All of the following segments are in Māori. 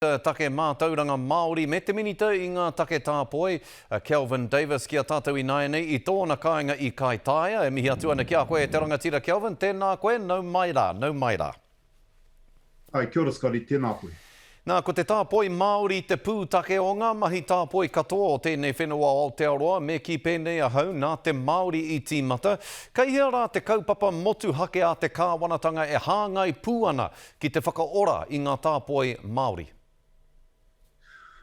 Minita Take Mātauranga Māori me te Minita i ngā Take Tāpoi, a Kelvin Davis ki a tātou ināianei i tōna kāinga i Kaitaia. E mihi atu ana ki a koe e te rangatira Kelvin, tēnā koe, nau mai rā, nau mai rā. Hi, kia ora Scotty, tēnā koe. Nā, ko te tāpoi Māori te pūtake o ngā mahi tāpoi katoa o tēnei whenua o Aotearoa, me kī pēnei ahau, nā te Māori i tīmata. Kei hea rā te kaupapa motuhake a te kāwanatanga e hāngai pū ana Ki te whakaora i ngā tāpoi Māori.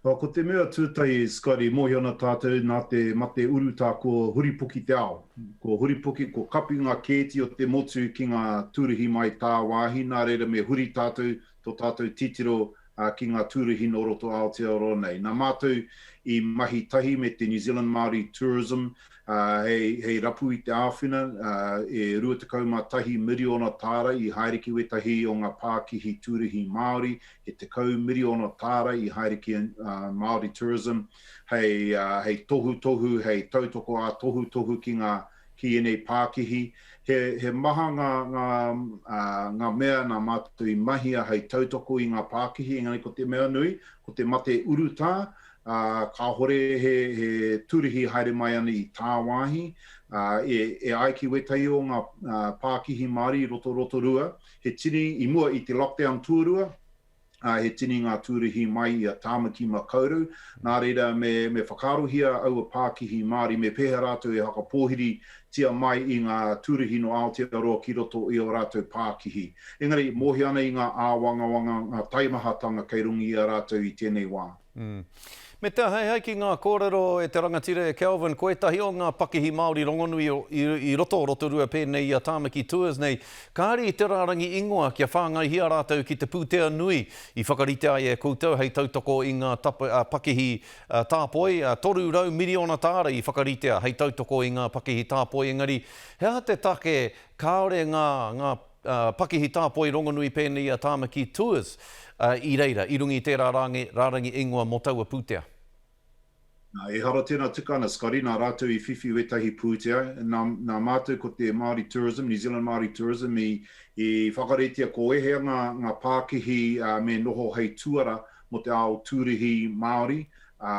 Ā, ko te mea tūtahi, Scotty, mōhio ana tātou nā te mate urutā ko huripoki te ao. Ko huripoki, ko kapi ngā kēti o te motu ki ngā tūruhi mai tāwāhi, nā reira me huri tātou, tō tātou titiro, ā, ki ngā tūruhi nō roto Aotearoa nei. Nā Mātou i mahi tahi me te New Zealand Māori Tourism hei rapu i te āwhina e 21 miriona tāra i haere ki wētahi o ngā pākihi tūruhi Māori, he tekau miriona tāra i haere ki Māori Tourism, hei tohutohu, hei tautoko ā-tohutohu ki ēnei pākihi. He maha ngā mea nā mātou i mahia hei tautoko i ngā pākihi, engari ko te mea nui, ko te mate urutā, ā, kāhore he turihi haere mai ana i tāwāhi, ā, e, e ai ki wētahi o ngā pākihi Māori i roto Rotorua, he tini, i mua i te lockdown tuarua, ā, he tini ngā tūrihi mai i a Tāmaki Makaurau, nā reira me, me whakaarohia aua pākihi Māori me pēhea rātou e whakapōhiri tia mai i ngā tūrihi nō Aotearoa ki roto i ō rātou pākihi. Engari, mōhio ana i ngā āwangawanga, ngā taimahatanga kei runga i a rātou i tēnei wā. Me te aheahe ki ngā kōrero e te rangatira e Kelvin, ko ētahi o ngā pakihi Māori rongonui i roto o Rotorua pēnei i a Tāmaki Tours nei, kāre i te rārangi ingoa kia whāngaihia rātou ki te pūtea nui i whakarite ai e koutou hei tautoko i ngā pakihi tāpoi, 300 miriona tāra i whakaritea hei tautoko i ngā pakihi tāpoi engari he aha te take kāore ngā Pakihi Tāpoi rongonui pēnei a Tāmaki Tours i reira i runga i tērā rāngai rārangi ingoa mō taua pūtea. Nā, ehara tēnā tika ana, Scotty, nā rātou i whiwhi wētahi pūtea, nā, nā mātou ko te Māori Tourism, New Zealand Māori Tourism i, i whakaretia ko ēhea ngā, ngā pākihi me noho hei tuara mō te ao tūrihi Māori, ā,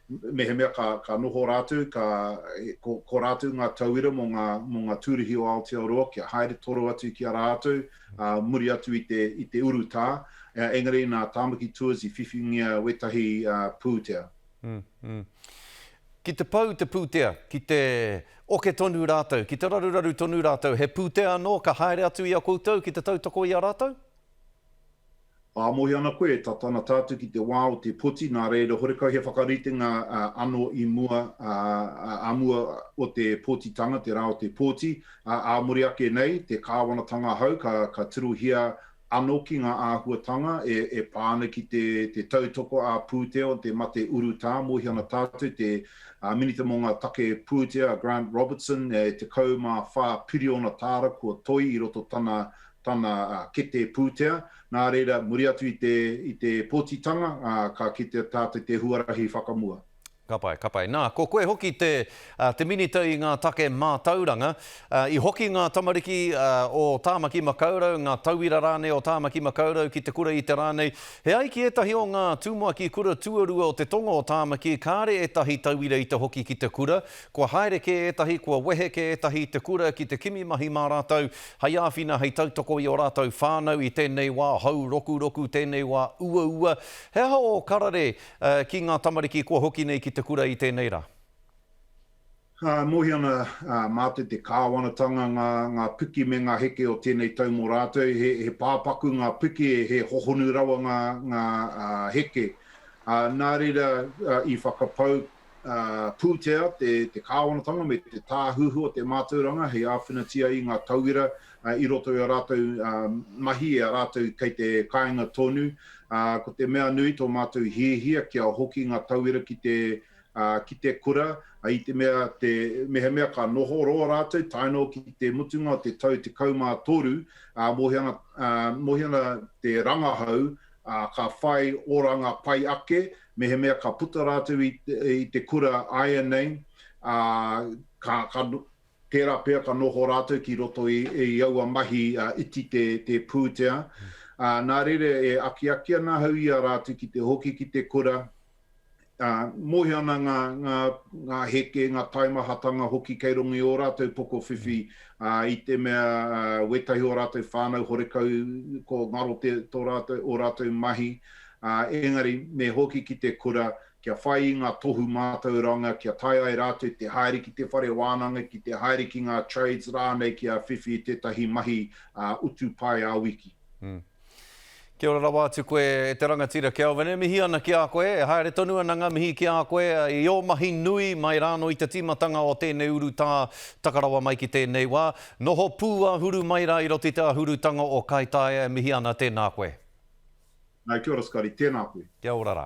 Mehemea ka, ka noho rātou, ka, ko, ko rātou ngā tauira mō ngā, mō ngā tūruhi o Aotearoa kia haere toro atu ki a rātou, ā, muri atu i te, i te urutā, ā, engari nā Tāmaki Tours i whiwhingia wētahi, ā, pūtea. Ki te pau te pūtea, ki te oke tonu rātou, ki te raruraru tonu rātou, he pūtea anō ka haere atu i a koutou ki te tautoko i a rātou? Ā, mōhio ana koe, e tata ana tātou ki te wā o te poti, nā reira, horekau he whakaritenga anō i mua, ā mua o te pōtitanga, te rā o te pōti, ā, ā muri ake nei, te kāwanatanga hau, ka, ka tirohia anō ki ngā āhuatanga e, e pā ana ki te, te tautoko ā-pūtea, te mate urutā, mōhio ana tātou, te, ā, Minita mō ngā Take Pūtea, a Grant Robertson, e 14 piriona tāra kua toi i roto tana tana kete pūtea, nā reira, muri atu i te, i te pōtitanga, ā, ka kitea tātou i te huarahi whakamua. Ka pai, ka pai. Nā, ko koe hoki te, te Minita i ngā Take Mātauranga. I hoki ngā tamariki o Tāmaki Makaurau, ngā tauira rānei o Tāmaki Makaurau ki te kura i te rā nei. He ai ki ētahi o ngā tūmuaki kura tuarua o te tonga o Tāmaki, kāre ētahi tauira i te hoki ki te kura, Kua haere kē ētahi, kua wehe kē ētahi i te kura ki te kimi mahi mā rātou, hei āwhina, hei tautoko i ō rātou whānau i tēnei wā hou rokuroku, tēnei wā uaua. He aha ō karare ki ngā tamariki kua hoki nei ki te kura i tēnei rā? Ka mohi ana mātou te kāwanatanga, ngā, ngā piki me ngā heke o tēnei tau mō rātou. He, he pāpaku ngā piki, he hohonu rawa ngā, ngā heke. Nā reira, i whakapau pūtea te kāwanatanga me te tāhuhu o te mātauranga hei āwhinatia i ngā tauira i roto i ā rātou mahi, i a rātou kei te kāinga tonu. Ko te mea nui tō mātou hiahia kia hoki ngā tauira ki te kura, i te mea mehemea ka noho roa rātou tae noa ki te mutunga o te tau 13, mōhio ana te rangahau ka whai oranga pai ake Mehemea ka puta rātou i te, i te kura āianei, ā, ka, ka, tērā pea ka noho rātou ki roto i, i aua mahi ā, iti te, te pūtea. Ā, nā reira e akiaki ana ahau i a rātou ki te hoki ki te kura, ā, mōhio ana ngā, ngā, ngā heke, ngā taimahatanga hoki kei runga i ō rātou pokowhiwhi, ā, i te mea, ā, wētahi o rātou whānau horekau ko ngaro te, tō rātou, ō rātou mahi, ā, engari me hoki ki te kura kia whai i ngā tohu mātauranga kia tae ai rātou te haere ki te whare wānanga, ki te haere ki ngā trades rānei kia whiwhi i tētahi mahi utu pae ā-wiki. Kia ora rawa atu koe e te rangatira Kelvin, e mihi ana ki a koe, e haere tonu ana nga mihi ki a koe i o mahi nui mai rāno i te tīmatanga o tēnei urutā taka rawa mai ki tēnei wā. Noho pū a Huru mai rā i roto i te ahurutanga o Kaitaia e mihi ana tēnā koe. Nau kia ora Scotty, tēnā koe. Kia ora rā.